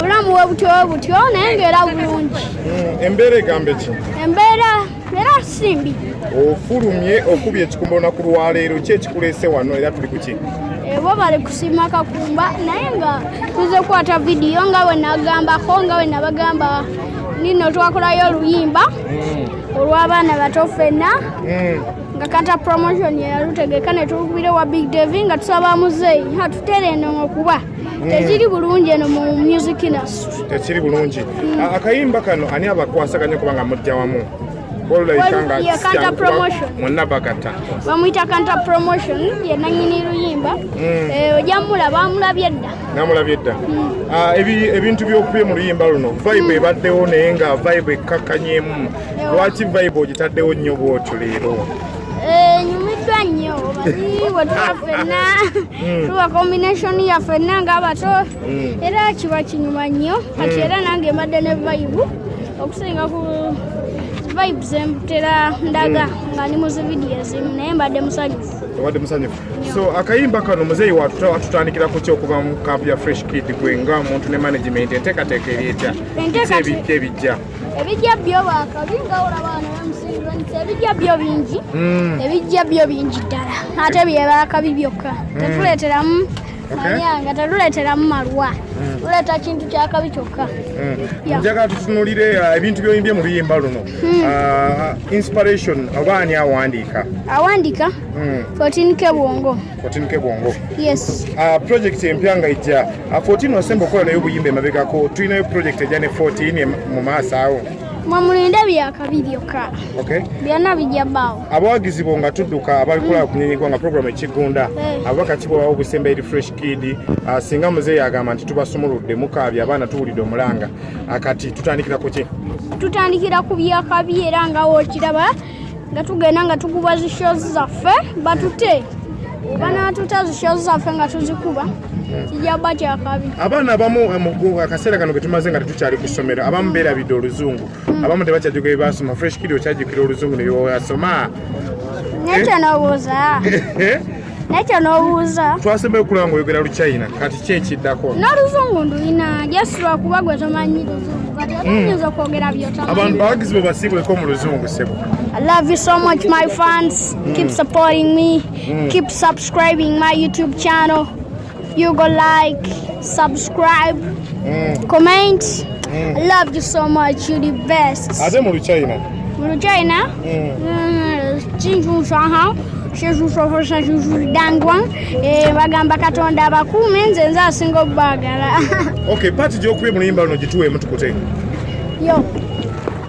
obulamu bwe butyo bwe butyo naye ngaera bulungi hmm, embeera egambe ki embeera era simbi ofulumye okubya ekikumbona ku lwaleero ki ekikuleese wano era tuli kuki ebo eh, bali kusiima kakumba naye nga tuze kukwata vidiyo nga bwe nagambako nga bwe nabagamba nino twakolayo oluyimba hmm. olw'abaana bato ffenna hmm. nga kata promotion yalutegeka ne tukubira wa big devi nga tusaba muzeeyi hatutere eno ngokuba hmm. tekiri bulungi eno mu music industry tekiri bulungi hmm. akayimba kano ani abakwasaganya kubanga mujja wamu bamuyita kanta promotion yenanyini luyimba hmm. eh, ojja mulaba amulabye dda namulabye dda ah, ebintu byokubye mu luyimba luno vibe ebaddewo naye nga vibe ekkakkanyemu lwaki vibe ogitaddewo nnyo bwotyo leero eh, nyumiddwa nnyo wetula fenna hmm. tuwa combination ya fenna nga abato hmm. era kiba kinyuma nnyo kati hmm. era nange mbadde ne vibe okusinga ku vibe zembutera ndaga nga ni muzividiyo ezimu naye mbadde musanyufu obadde musanyufu so akayimba kano muzeeyi watutandikira ku kyokuva mu kampu ya fresh kid gwe nga omuntu ne management enteekateeka eri etya ebijja ebijja byo bwakabi nga olaba wano wemusinzanisa ebijja byo bingi hmm. ebijja byo bingi ddala ate byebakabi byokka hmm. tetuleeteramu manyanga tetuleeteramu malwa hmm. tuleeta kintu kyakabi kyokka njagala tutunulire uh, ebintu byoyimbye mu luyimba luno uh, inspiration oba ani awandiika awandiika 14 ke bwongo Kotinuke Bwongo. Yes. Uh, project empya nga ijja. Uh, 14 wasemba okola nayo obuyimba emabegako. Tulinayo project ejja ne 14 mu maaso awo. Mwamulinde byakabi byokka. Okay. Byonna bijja bbaawo. Abawagizi bo nga tudduka abalikola mm. kunyenyegwa nga programu ekigunda. Hey. Eh. Ababaka kibo bawo obusemba eri fresh kid. Uh, singa muzeeyi agamba nti tubasumuludde mukaabya abaana tuwulidde omulanga. Uh, kati tutandikira ku ki? Tutandikira ku byakabi era nga wokiraba. nga tugenda nga tukuba zi shows zaffe batute banatuta zi shows zaffe nga tuzikuba kijaba kyakabi abaana abamu eh, mu akaseera kano ketumaze nga tetukyali ku ssomero abamu beerabidde oluzungu hmm. abamu tebakyajjuka ebibasoma fresh kiri okyajjukira oluzungu nebyoasoma nekyo nobuuza naye kyonoobuuza twasembayo okulaba nga oyogera luchina kati ki ekiddako n'oluzungu ndulina just lwakuba gwe tomanyi luzungu kati hmm. otayinza okwogera byotamanyi abantu bawagizi bwe basiibuleko mu luzungu sebo I love you so much, my fans. Mm. Keep supporting me. Mm. Keep subscribing my YouTube channel. You go like, subscribe, mm. comment. Mm. I love you so much. You're the best. Ate mu China. Mu China? Mm. Mm. Chinchu shaha. shezusohosa zuzudangwa eh, bagamba katonda abakuume nze nze asinga obubagala okay paati gyokuba emuluyimba luno gituweemu tukute yo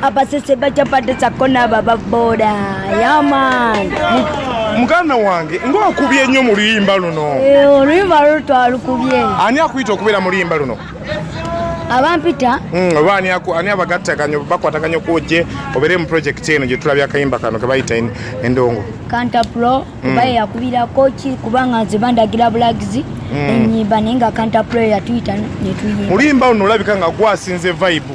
Hapa sisi bacha pande za kona baba boda. Yaman. Muganda wange ng'okubye nnyo mu luyimba luno. Eh, oluyimba luno twalukubye. Ani akuyita okubeera mu luyimba luno? abampita hmm, oba ani abagattaganya bakwataganya okuwojje obeere mu project eno gyetulabya akayimba kano kebayita endongo cantapro hmm. baye yakubirako ki kubanga nze bandagira bulagizi hmm. enyimba naye nga cantapro yatuyita netuyimba oluyimba luno olabika nga gwasinze vibe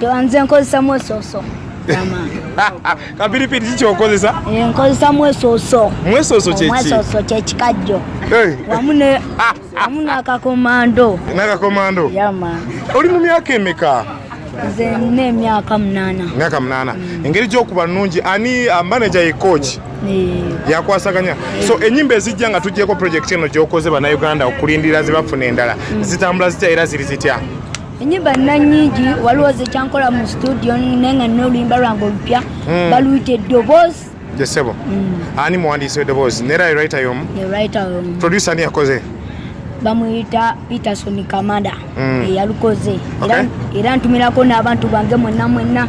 tewanze nkozesa mwesoso kapiripiri kiki okozesa eh, nkozesa mwesoso mwesoso kyekimwesoso kyekikajjo eh. wamu nakakomando nakakomando yama oli mu myaka emeka nze nina emyaka munana myaka munana mm. engeri gyokuba nungi ani ah, manaja ye coach yakwasaganya so enyimba ezijja nga tujjeko project eno gyokoze banauganda okulindira zibafuna endala mm. zitambula zitya era ziri zitya enyimba nina nyingi waliwo zekyankola mu studio naye nga nina oluyimba lwange olupya hmm. baluyita eddoboozi jesebo hmm. ani muwandiisi weddoboozi nera ewrita yomu producer ani yakoze bamuyita peterson kamada hmm. eyalukoze era ntumirako n'abantu bange mwenna mwenna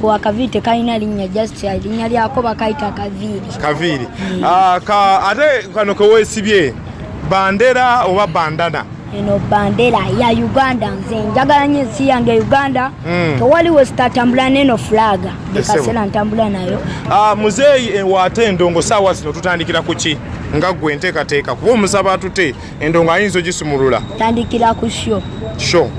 Kwa kaviiri tekalina linnya just linnya lyako bakayita kaviiri. Kaviiri. Mm. Ah, ka ate kano keweesibye bandera oba bandana? Eno bandera ya Uganda nze njagala nnyo ensi yange Uganda. Mm. Tewali we sitatambula n'eno fulaga. Ndikasera ntambula nayo. Ah, muzeeyi ewaate eh, endongo saawa zino tutandikira ku ki? nga gwe nteekateeka kuba omusaba atute Endo nga ayinza ogisumulula. Tandikira ku sho. Sho.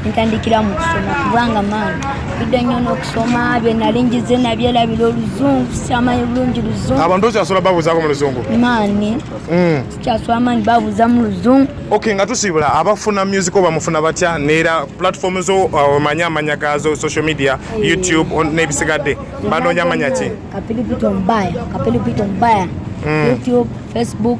Ntandikira mu kusoma kubanga maani tudde nnyo n'okusoma bye nali njize nabyerabira oluzungu sikyamanyi bulungi luzungu. Abantu okyasobola babuuzaako mu luzungu? Maani. Mm. Sikyasobola maani babuuza mu luzungu. Okay nga tusiibula abafuna music oba mufuna batya neera platform zo uh, omanya amanya gaazo social media eh. YouTube n'ebisigadde banoonya amanya ki? Kapilipito mbaya. Kapilipito mbaya. Mm. YouTube, Facebook.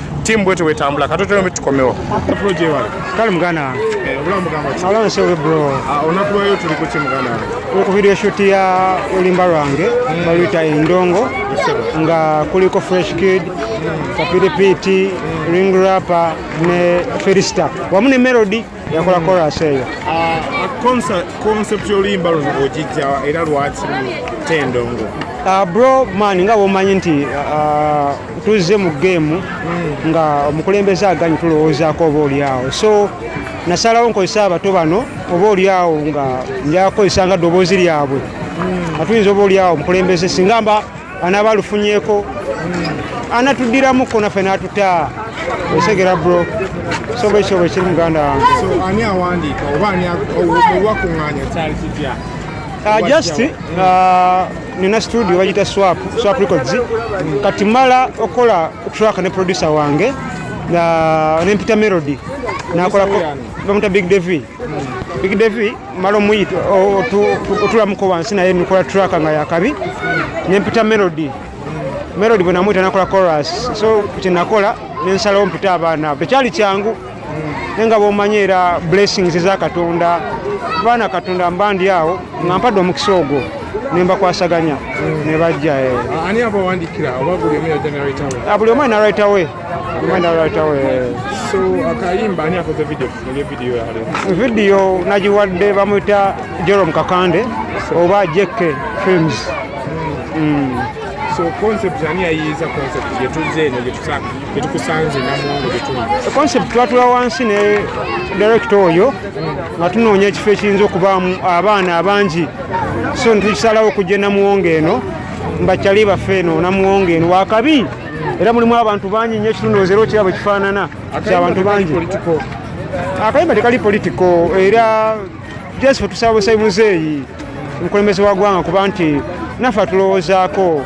Timu bwete wetambula katoto yo tukomewo. Pro je wale. Kale mugana wange. Eh, obulamu bugamba ki? Obulamu sewe bro. Ah, onakubayo tuli ku timu mugana wange. Ku video shoot ya olimba lwange mm. baluyita Endongo nga kuliko Fresh Kid, mm. Kapiripiti, mm. Ring Rapper ne Felista wamu ne Melody. yakola koras eyo oluyimba luno ogijja era lwaki tendongo ah, bro man nga womanyi nti ah, tuzze mu geemu hmm. nga omukulembeze aganyi tulowoozaako oba olyawo so nasalawo nkozesa abato bano oba olyawo nga njakozesa nga ddoboozi lyabwe hmm. nga tuyinza oba olyawo omukulembeze singa mba anaaba alufunyeeko anatuddiramuko naffe n'atuta osegera bro soba ekyo bwe kiri muganda wange ani awandiika oba ani owakuŋŋaanya kyali kitya Uh, just uh, nina studio bagita swap swap records kati mala okola track ne producer wange uh, nempita melody nakola bamuta big devi big devi mala omuyi otulamuko wansi naye nikola traka nga yakabi nempita melody melody bwenamuyita nakola coras so kyenakola nensalawo mpita abaana tekyali kyangu naye nga bomanyi era blessings eza katonda abaana katonda mba ndi awo nga mpadde omukisa ogwo nembakwasaganya nebajja eh. ah, buli omu alina right away vidiyo nagiwadde bamuyita jerom kakande oba jekke films mm. so concept ani yayiiza concept gyetuzze eno gyetukusanze namuwongo gyetuli concept twatula wansi ne direkita oyo nga tunoonya ekifo ekiyinza okubaamu abaana abangi so netukisalawo okujja namuwongo eno mbakyali baffe eno namuwongo eno wakabi era mulimu abantu bangi nyo ekitundu ozera okira bwe kifaanana kyabantu bangi akayimba tekali politiko era jesife tusabusayi muzeeyi omukulembeze wa gwanga kuba nti naffe atulowoozaako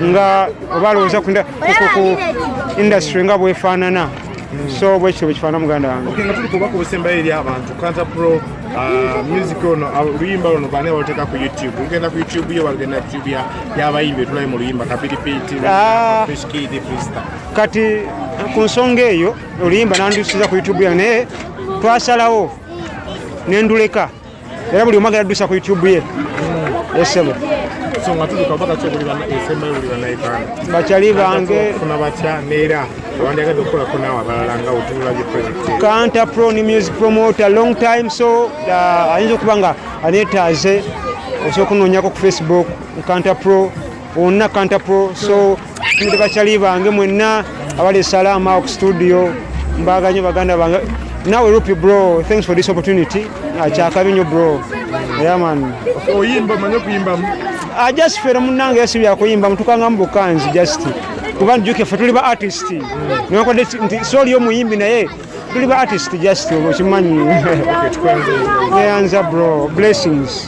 nga oba alowooza ku indasitule nga bwefaanana Mm. so bwekityo bwekifaana muganda wange nga tuli kubaka obusembayo eri abantu kanta pro uh, music ono uh, oluyimba luno baani abaluteeka ku youtube lugenda ku youtube yo balugenda ku youtube yabayimbi etulabe mu luyimba kapiripiti ah. kati ku nsonga eyo oluyimba nandusiza ku youtube yange naye twasalawo nenduleka era buli omwagala dusa ku youtube ye esebo bakyali bange kanta pro ni music promoter long time so uh, ayinza okuba nga aneetaaze osobola okunonyako ku facebook nkanta pro Onna Kanta Pro so ndi bachali bange mwenna abali salamu awo ku studio mbaga nyo baganda bange nawe rupi bro thanks for this opportunity akyakabi nyo bro yeah man oyimba manyo kuyimba I just feel munange yesi bya kuyimba mutukanga mu bukanzi just kuba njuke fe tuli ba artist mm. nyo kwa desi nti soli yo muyimbi naye tuli ba artist just okimanyi okay, yeah, bro blessings